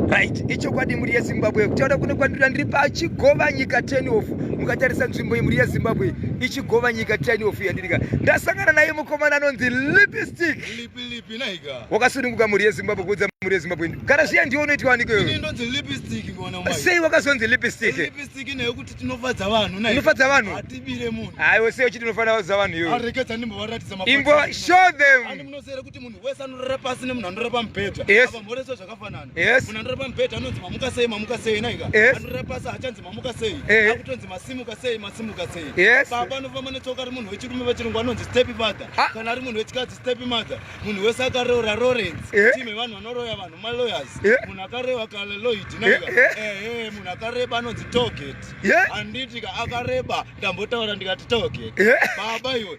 right ichokwadi mhuri yezimbabwe kutaura kuno kwandira ndiri pachigova nyika tenof mukatarisa nzvimbo yemhuri yezimbabwe ichigova nyika tenof yandirika ndasangana naye mukomana anonzi lipstick wakasununguka mhuri yezimbabwe kuudza mhuri yezimbabwe kana zviya ndiwo unoitwa waniko sei wakazonzi lipsticknofadza vanhu aiwe sei uchiti unofanira kuudza vanhu iwe imbo show them munhu wese anorara pasi nemunhu anorara pamubhedha ava mhoreswa zvakafanana munhu anorara pamubhedha anonzi mamuka sei mamuka sei naika anorara pasi hachanzi mamuka sei akutonzi masimuka sei masimuka sei baba anofamba netsoka ari munhu wechirume vachirungu anonzi stepi father kana ari munhu wechikadzi stepi mother munhu wese akareura lawrence tim yevanhu vanoroya vanhu malawyers munhu akarewa kale loid naika ehe munhu akareba anonzi toget handiti ka akareba ndambotaura ndikati toget baba iwe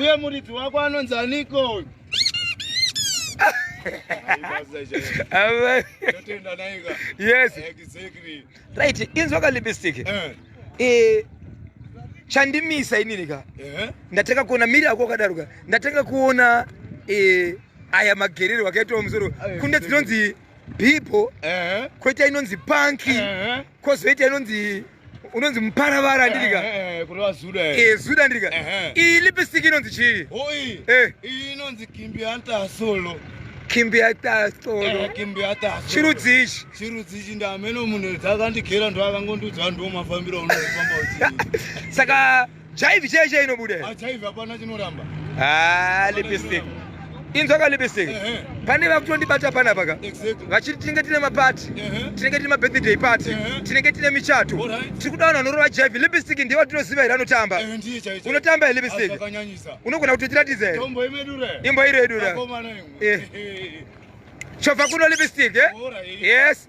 uye muridzi wako anonzi aniko yes right inzwa ka lipstick eh. eh chandimisa inini ka eh. ndatanga kuona miri ako akadaruka ndatanga kuona eh aya magerero akaitwa musoro kunde dzinonzi eh. bibo eh. koita inonzi panki eh. kozoita inonzi unonzi muparavara eh, ndirika eh, eh, e zuda ndirika iyi lipstick inonzi chii iyi inonzi kimbianta solo chirudzi ichi chirudzi ichi ndameno munhu dzakandigera ndoakangondiudza ndoo mafambiro unofamba uchi saka Jaivi chee chee inobuda here? Ah, jaivi hapana chinoramba. Ah, lipstick. Inzwa ka lipstick. Pane vakutondibata pana paka. Vachiti tinenge tine mapati. Tinenge tine mabirthday party. Tinenge tine michato. Tiri kuda vanhu vanorova jaivi. Lipstick ndiye watinoziva here anotamba. Unotamba here lipstick? Unogona kutotiratidza here? Imbo iro yedu ra. Chova kuno lipstick, eh? Yes.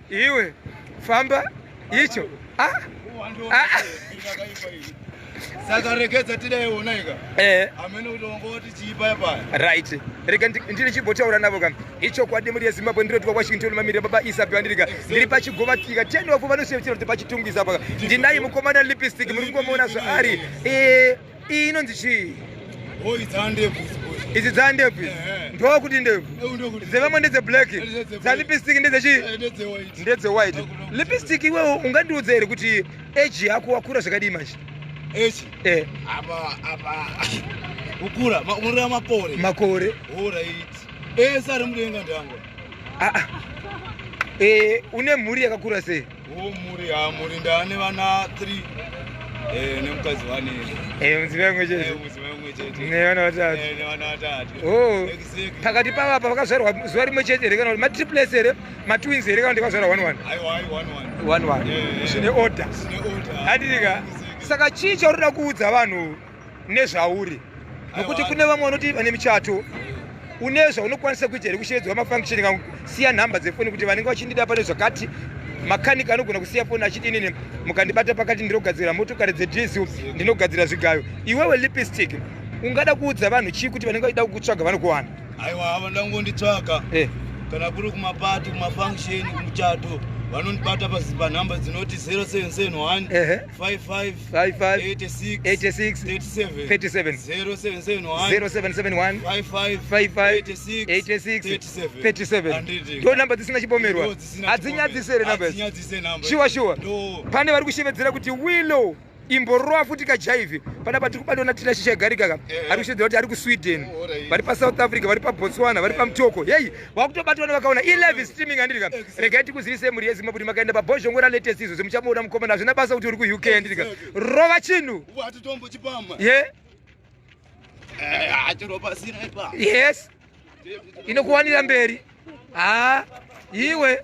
Iwe famba icho. Ah. Ah. Saka regedza tida iwona ika. Eh. Amene kuti wanga wati chiipa ipa. Right. Rega ndiri chibotaura navo kam. Icho kwa demuri ya Zimbabwe ndiro twa kwashinto le mamire baba Isa Byandirika. Ndiri pa chigova tika. Ten wafu vanosevera kuti pa chitungwiza paka. Ndinayi mukomana lipstick muri kumona zvaari. Eh. Iyi inonzi chii? Oh, it's handebvu. izi dza ndebvu izi ndoo kuti ndebvu dzevamwe ndedze black dza lipstick ndedzechi ndedze white lipstick iwewo ungandiudza here kuti age yako wakura zvakadii manje makore une mhuri yakakura sei Huu muri ha muri ndane vana 3 eh nemukadzi wane. Eh mudziva yamwe chete. Eh mudziva yamwe chete. Ne vana vatatu. Eh ne vana vatatu. Oh. Pakati pavo apa vakazvarwa zuva rimwe chete here kana ma triplets here ma twins here kana ndikazvarwa one one. Ayi one one. One one. Eh, eh. Zvine order. Zvine order. Adika. Saka chii chauri kuda kuudza vanhu? nezvauri nokuti kune vamwe vanoti vane michato une zvaunokwanisa kuita here kushedzwa mafunction kangu siya nhamba dzefoni kuti vanenge vachindida pane zvakati makanika anogona kusiya foni achiti inini mukandibata pakati ndinogadzira motokari dzedhisu ndinogadzira zvigayo iwewe lipstick ungada kuudza vanhu chii kuti vanenge vachida kukutsvaga vanokuwana aiwa havanoda kungonditsvaga eh. kana kuri kumapati kumafunction kumuchato vanondibata panhamba dzinoti 0771 55 ndonamba dzisina chipomerwa hadzinyadzisere shuwa shuwa pane vari kushevedzera kuti willow imborowa futi kajaivi pana patiri kubatona tina shisha garikaka eh. ari kushevedzera kuti ari kusweden oh, vari pasouth africa vari pabotswana vari pamutoko heyi wakutobatwa nevakaona i live streaming andirika regai tikuzivise mhuri yezimba kuti makaenda pabhozhongo ralatest izvo zimuchamuona mukomana hazvina basa kuti uri kuuk andirika rova chinhu ye eh, yes inokuwanira mberi ha iwe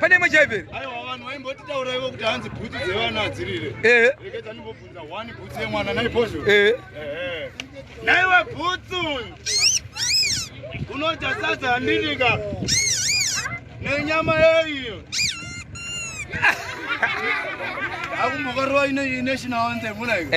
pane imwe chaiveri aiwa vanhu vaimbotitaura ivo kuti hanzi bhutsu dzevana hadzirire ehe reketa ndimbobvunza one bhutsu yemwana naipozvo ehe naiwe bhutsu unodya sadza handinika nenyama yeiyo akumbokarova ine national anthem unaiko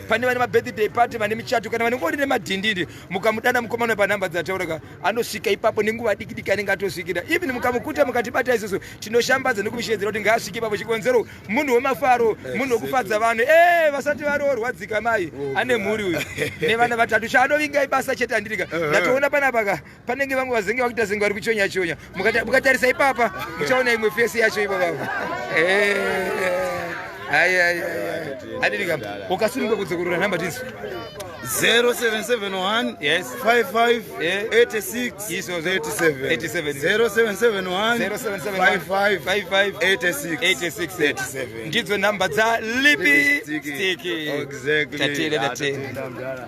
pane vane mabirthday party vane michato kana vanengori nemadhindindi mukamudana mukomana panhamba dzatauraka anosvika ipapo nenguva diki diki anenge atosvikira even mukamukuta mukatibata isusu tinoshambadza nekumishedzera kuti ngaasvike ipapo chikonzero munhu wemafaro munhu wekufadza vanhu e vasati varoorwa dzika mai oh, ane mhuri uyu nevana vatatu chaanovinga ibasa chete andirika eh, eh. ndatoona panapaka panenge vamwe vazenge vakuita zenge vari kuchonya chonya mukatarisa ipapa muchaona imwe fesi yacho ipo vavo adidika ukasununga kudzokorora nhamba tinzi 0771 yes 55 86 87 ndidzo nhamba dza lipi stiki tatele tatele